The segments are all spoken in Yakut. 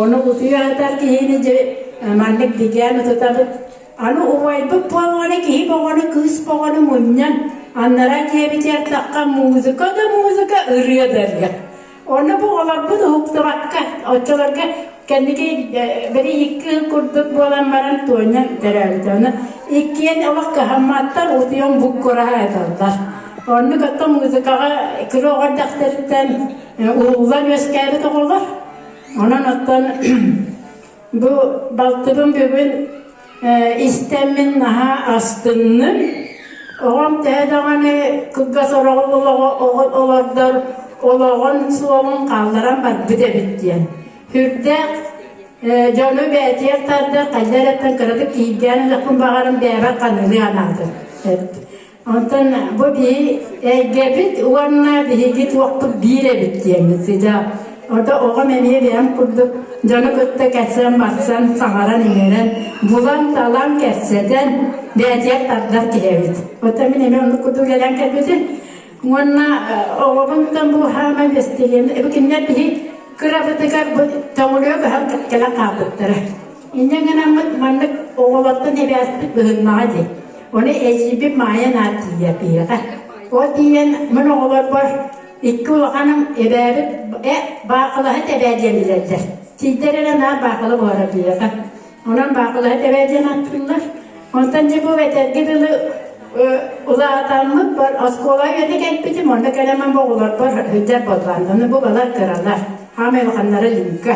Ону кутуйа сытар киһини дьэ маннык дьэдьээн ытытабыт. Аны убайбыт буоллаҕына киһи бөҕөнү, кыыс бөҕөнү мунньан, аннараа киэбитэ аттахха музыка да музыка, ырыа да ырыа. Онно бу оҕолорбут уһуктубакка, оччолорго кэнники били икки ый курдук буолан баран Туонньа төрөөбүтэ. Ону иккиэн олох кыһамматтар, утуйан буккураһа ыыталлар. Оннук оттон музыкаҕа киһи оҕо эрдэхтэриттэн Уруулар үөскээбит оҕолор. Онон оттон бу балтыбын бүгүн истэммин наһаа астынным. Оҕом төһө даҕаны кылгас олордор олоҕун суолун хаалларан барбыт эбит диэн. Хүрдээх дьону бээтиэх тарда, хайдар эттен кыратык кииргээн өлөхпүн баҕарым бээбэт ханыылыы анаатын. Онтон бу биһи эйгэбит уонна биһиги туохпут биир эбит диэмит сидэ. Ото оҕом эмиэ бэйэм курдук дьону кытта кэтсэн барсан саҥаран иҥэрэн булан талан кэпсэтэн бээтигэр тардар киһи эбит. Ото мин эмиэ оннук курдук кэлэн кэлбитим. Уонна оҕобунтан бу хаамай бэстиһиэм. Эби кинилэр биһи кырабытыгар бу тоҥулуйа көһөн кэлэн хаалбыттара. Инньэ гынаммыт маннык оҕолортон эбээспит быһыннаҕа дии. Ону эдьиийбит Маайан аат тиийэ пиһэҕэ. Ол тиийэн мин оҕолорбор икки улаханым эбээбит э баакылаһыт эбээ диэн билэллэр. Тиийдэр эрэ наар баакыла буолара пиһэҕэ. Онон баакылаһыт эбээ диэн ааттыыллар. Онтон дьэ бу этэргэ дылы улаатаммыт бар оскуола үйэтэ кэлбитим онно кэлэмэн бу оҕолорбор сылдьар буоллаан аны бу балар кыралар хаамай улаханнара лүҥкэ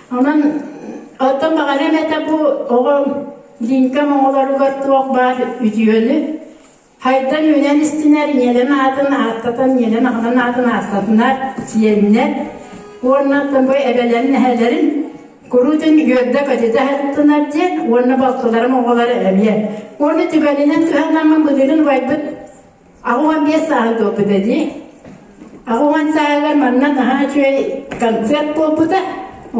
Онон оттон баҕарыам этэ бу оҕом Динкэм оҕолоругар туох баар үтүөнү хайдан үүнэн истинэр, ийэлэн аатын ааттатан, ийэлэн аҕалан аатын ааттатынар, сиэннэр уонна оттон бу эбэлэрин эһэлэрин куруутун үөрдэ-көтүтэ аһаттынар диэн уонна балтыларым оҕолоро эмиэ. Уонна түгэнинэн туһанаммын былырын убайбыт Аҕуон биэс сааһы туолбута дии. Аҕуон сааһыгар манна наһаа үчүгэй концерт буолбута.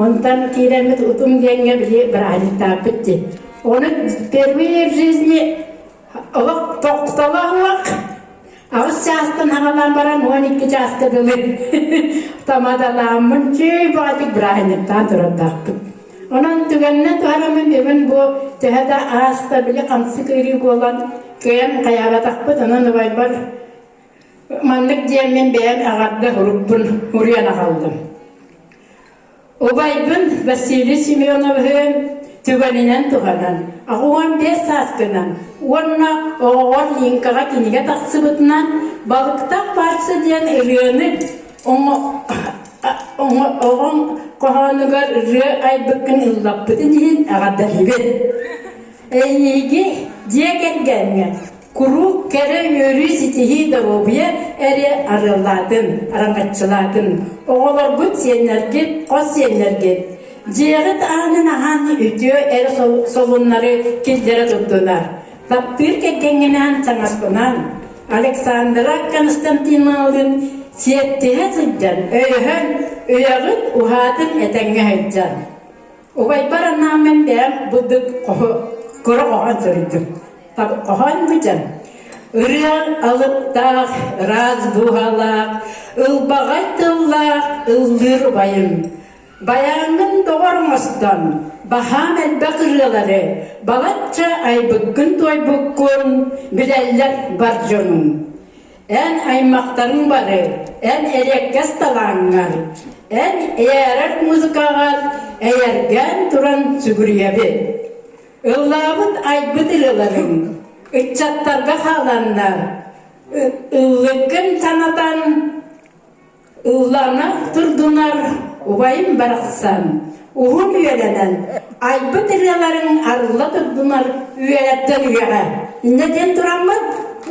Онтон киирэммит Утум диэҥҥэ били бырааһынньыктааппыт дии. Оны впервые в жизни олох тохтоло уох аҕыс чаастан хагалан баран он икки чааска дылы тамадалааммын чүй баатик бырааһынньыктаан турардаахпыт. Онон түгэнинэн туһаан гынан биэрбин бу төһө да ааста били хамсык ыйырыы буолан кыйан хайаабатахпыт онон убайбар маннык диэн мин бэйэм аҕарда урукпун уруйан аҕаллым. Убайбын Василий Семеновиһын түгэнинэн туһанан аҕуон биэс сааскынан уонна оҕоҕор лиҥкаҕа кинигэ тахсыбытынан Балыктах баарса диэн ырыаны Оҕоҥ хоһоонугар ырыа айбыккын ыллаппытын иһин эҕэрдэлиибин. Эйиги дьиэ кэргэҥҥэ куруук кэрэ үөрүү ситиһии доруобуйа эрэ арыаллаатын, араҥаччылаатын. Оҕолоргут, сиэннэргит, хос сиэннэргит дьиэҕит аанын аһан үтүө эр солуннары киллэрэ турдунар. Таптыыр кэргэҥҥинээн таҥаспынан Александра Константиновалыын сиэттиһэ сылдьан, өйөһөн, үйэҕит уһаатын этэҥҥэ сылдьан. Убайбар анаан мин бэйэм быдык хоһу кыра хоһон суруйдум. Хоһоон быдьан. Ырыаҥ алыптаах, ыраас дууһалаах, ылбаҕай тыллаах ыллыыр убайым. Байааҥҥын доҕор оҥостон, баһаам элбэх ырыалары балачча айбыккын-туойбуккун билэллэр бар дьонум. Эн аймахтарыҥ бары эн эриэккэс талааҥҥар, эн эйээрэр музыкаҕар эйэргээн туран сүгүрүйэбит. Ыллаабыт айбыт ырыаларыҥ ыччаттарга хааланнар, ыллыггын санатан, Ыллана турдунар убайым барахсан, уһун үөлэнэн, айбыт ырыаларын арылла турдунар үөлэттэн үйэҕэ. Иннэ диэн тураммыт,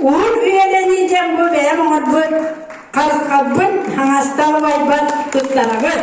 уһун үөлэнии дьэм бу бэйэм оҥорбут, харысхапбын, хаҥастаах убайбын туттарабыт.